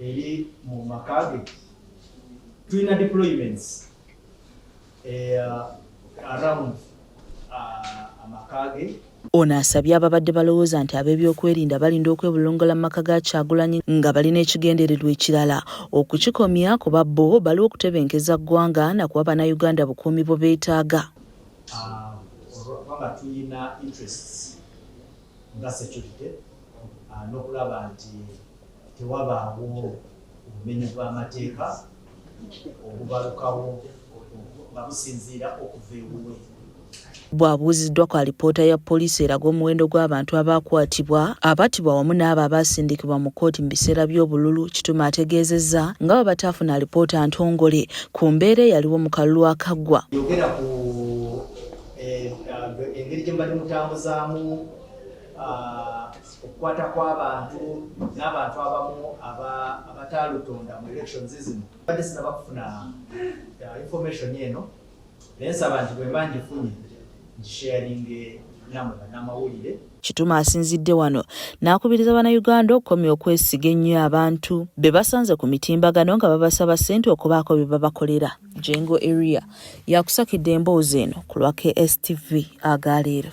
eri mu maka ge tulina deployments eh, around uh, amaka ge ono asabye ababadde balowooza nti ab'ebyokwerinda balinda okwebulungola mu maka ga kyagulanyi nga balina ekigendererwa ekirala okukikomya kuba bo baliwo okutebenkeza ggwanga nakuba bannayuganda bukuumi bwe beetaaga ah, ah, tewabaawo obumenyi bw'amateeka obubalukawo nga businziira okuva ewuwe. Bw'abuuziddwa ku alipoota ya poliisi eraga omuwendo gw'abantu abaakwatibwa, abattibwa wamu n'abo abaasindikibwa mu kkooti mu biseera by'obululu, Kitume ategeezezza nga bwe bataafuna alipoota ntongole ku mbeera eyaliwo mu kalulu akaggwa. Yogera ku eh, eh, engeri gye mbadde mutambuzaamu ah, okukwata kw'abantu n'abantu abamu abataalutonda mu elections zino badde sinaba kufuna uh, information eno naye nsaba nti bwemba ngifunye ngisharinge namwe banamawulire Kituma asinzidde wano n'akubiriza Bannayuganda okukomya okwesiga ennyo abantu be basanze ku mitimbagano nga babasaba ssente okubaako bye babakolera. Jengo Eria yakusakidde emboozi eno ku lwa KSTV aga leero.